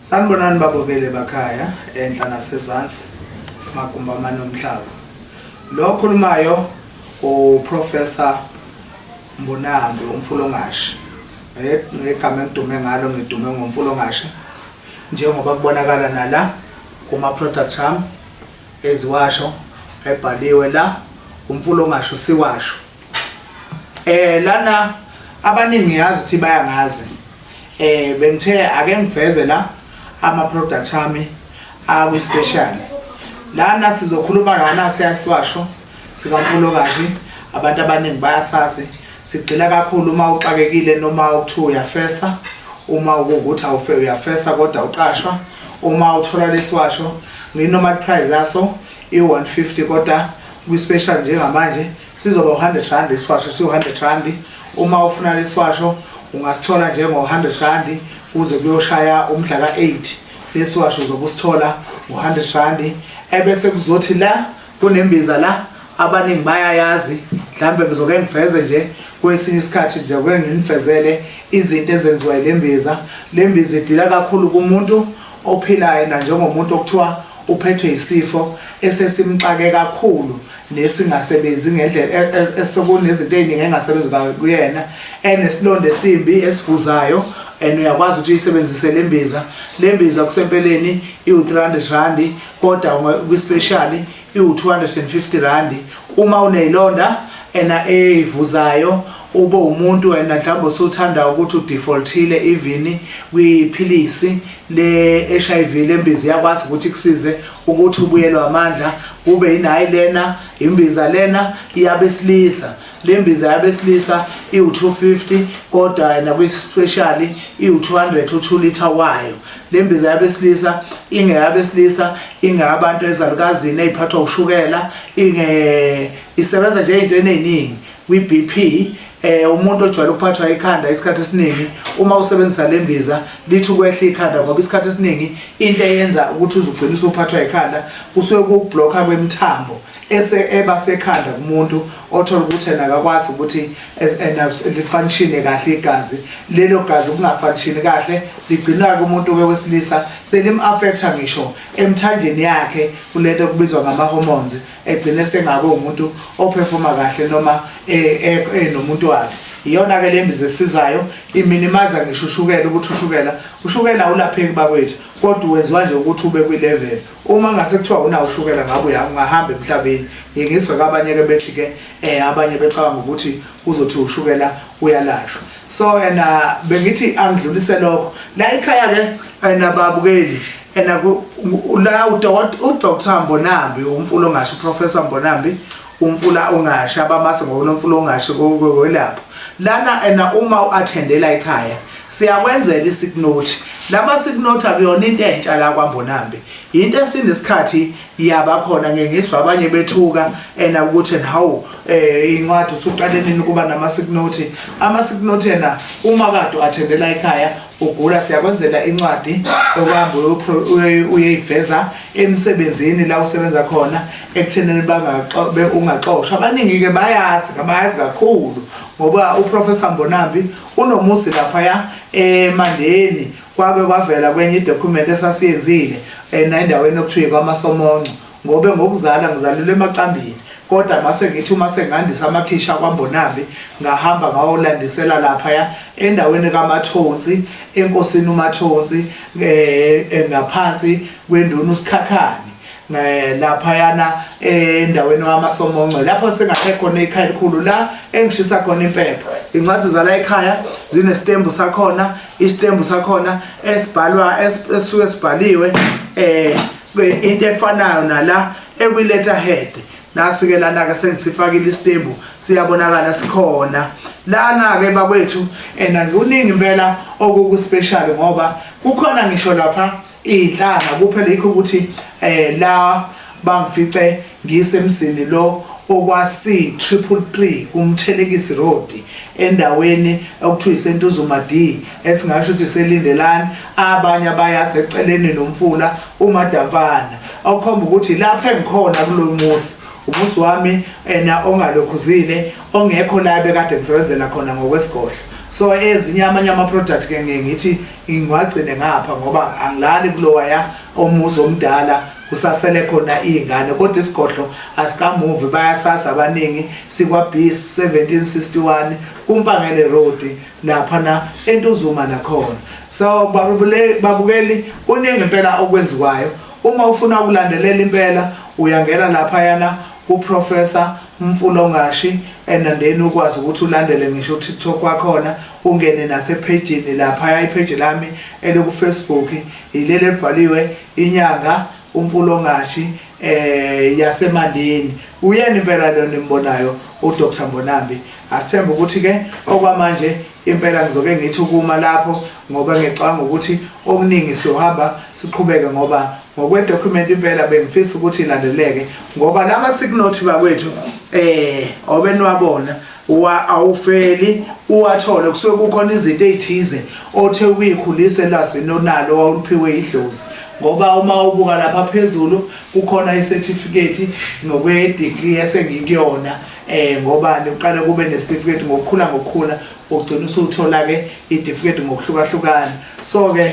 Sanibonani babokele bakhaya enhla nasezansi magumba amanomhlaba. Lo okhulumayo uProfessor Mbonambi umfulongashi. Ngegama engidume ngalo ngidume ngomfulongashi njengoba kubonakala nala kuma product am eziwasho ebhaliwe la umfulongashi siwasho. Eh lana abaningi yazi ukuthi bayangazi Eh bengithe ake ngiveze la ama product ami akwi special. Lana sizokhuluma ngana siyasiwasho sikamfulo kashi abantu abaningi bayasazi sigxila kakhulu uma uxakekile noma ukuthiwa uyafesa uma ukuthi awufe uyafesa kodwa uqashwa uma uthola lesiwasho nginoma price yaso i-150 kodwa kwi-special njengamanje Sizoba u-100 rand isishwasho siwu-100 rand uma ufuna lesishwasho ungasithola njengo-100 rand kuze kuyoshaya umdla ka-8 lesiwasho uzobe usithola ngo-100 rand ebese kuzothi la kunembiza la abaningi bayayazi mhlawumbe ngizoke ngiveze nje kwesinye isikhathi nje kuke nginifezele izinto ezenziwa yile mbiza le mbiza idila kakhulu kumuntu ophilayo nanjengomuntu okuthiwa Uphethwe yisifo esesimxake kakhulu nesingasebenzi ngendlela esekunezinto eziningi engasebenzi kuyena enesilonda esimbi esivuzayo and uyakwazi ukuthi uyisebenzise le mbiza le mbiza kusempeleni iwu-300 randi kodwa kwispeshali iwu-250 randi uma uneyilonda ena eyivuzayo ube umuntu wena mhlawumbe usuthanda ukuthi udefaultile even kwiphilisi le-HIV lembiza iyakwazi ukuthi ikusize ukuthi ubuyelwe amandla kube yinayi lena imbiza lena iyabesilisa lembiza yabesilisa iwu-250 kodwa yena kwi-specially iwu-200 u-2 liter wayo lembiza yabesilisa ingeyabesilisa ingeyabantu ezalukazini eyiphathwa ushukela inge isebenza nje ey'ntweni ey'ningi kwi-BP eh umuntu ojwayele ukuphathwa ikhanda isikhathi esiningi uma usebenzisa lembiza lithi ukwehla ikhanda ngoba isikhathi esiningi into eyenza ukuthi uzugcina usuphathwa ikhanda kusuke kublocker kwemithambo ese eba sekhanda kumuntu othola ukuthi yena akakwazi ukuthi lifanishine kahle igazi lelo gazi kungafanishini kahle ligcina-ke umuntu ke wesilisa selim-affecta ngisho emthanjeni yakhe kulento okubizwa ngama-hormones egcina esengabe umuntu ophefoma kahle noma enomuntu wakhe iyona ke lembiza esizayo iminimaza ngisho ushukela ukuthi ushukela ushukela awulapheki bakwethu kodwa wenziwa nje ukuthi ube kwi level uma ngase kuthiwa unawo ushukela ngabe uyahamba emhlabeni ngingizwe kwabanye ke bethi ke eh abanye becabanga ukuthi uzothi ushukela uyalashwa so yena bengithi angidlulise lokho la ikhaya ke yena babukeli yena la udr mbonambi umfula ongasho uprofessor mbonambi umfula ongasho abamase ngokunomfula ongasho kwelapho lana ena uma u-athendela ekhaya siyakwenzela isignothi lama signothi akuyona into entsha la kwambonambi yinto esinesikhathi ya bakhona ngeke ngizwa abanye bethuka ena ukuthi and how eh incwadi usuqale nini kuba nama sick note ama sick note ena uma kade wathendela ekhaya ugula siyakwenzela incwadi okwambe uyeyiveza emsebenzini la usebenza khona ekuthenini bangaxobe ungaxoshwa abaningi ke bayazi kabayazi kakhulu ngoba uprofessor Mbonambi unomuzi lapha ya eMandeni Kwake kwavela kwenye idokhumenti esasiyenzile um endaweni okuthiwa ikwamasomonco ngobe ngokuzala ngizalelwe emacambini kodwa mase ngithi uma sengandisa amakhishi akwambonambi ngahamba ngawolandisela laphaya endaweni kamathonsi enkosini umathonsi um ngaphansi kwenduna usikhakhane Eh, laphayana eh, endaweni wamasomonco lapho sengakhe khona ikhaya elikhulu la engishisa khona impepho incwadi zala ekhaya zinestembu sakhona istembu sakhona esibhalwa esuke sibhaliwe eh into efanayo nala ekwiletter head nasuke lana ke sengisifakile istembu siyabonakala sikhona lana ke bakwethu ena kuningi impela okuku special ngoba kukhona ngisho lapha iy'nhlanga kuphela yikho ukuthi um la bangifice ngisemzini lo okwasi-333 kumthelekisi road endaweni okuthiwa isentuzuma d esingasho ukuthi selindelani abanye abayaseceleni nomfula umadamfana okukhomba ukuthi lapho engikhona kulo muzi umuzi wami ena ongalokhuzile ongekho la bekade ngisebenzela khona ngokwesigodlo so ezinye amanye ama-product-ke ngiye ngithi ngiwagcine ngapha ngoba angilali kulowaya omuzi omdala kusasele khona iy'ngane kodwa isigodlo asikamuvi bayasazi abaningi sikwa-bis 1761 kumpangele road laphana entuzuma nakhona so babukeli kuningi impela okwenziwayo uma ufuna ukulandelela impela uyangena laphayana kuprofessor mfulongashi and then ukwazi ukuthi ulandele ngisho utiktok wakhona ungene nasephejini laphaya ipheji lami elokufacebook yileli elibhaliwe inyanga umfulongashi um eh, yasemandini uyena impela lona imbonayo udr mbonambi asithembe ukuthi-ke okwamanje impela ngizoke ngithi ukuma lapho ngoba ngicabanga ukuthi okuningi siyohamba siqhubeke ngoba ngokwedokhumenti impela bengifisa ukuthi ilandeleke ngoba lama-signothi bakwethu um eh, obeniwabona wa awufeli uwathole kusuke kukhona izinto ezithize othe uyikhulise lwazi lonalo wawuliphiwe idlozi ngoba uma ubuka lapha phezulu kukhona icertificate nokwe degree esengikuyona eh ngoba niqale kube necertificate ngokukhula ngokukhula ugcina usuthola ke icertificate ngokuhlukahlukana so ke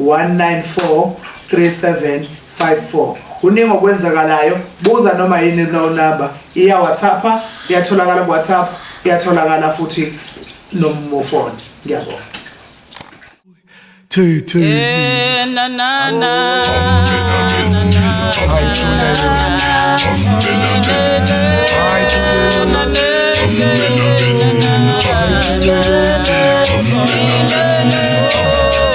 194374 kuningi okwenzakalayo buza noma yini no number iya WhatsApp iyatholakala ku WhatsApp iyatholakala futhi nomufoni ngiyabonga Tay tay. Eh, na na na. Ay,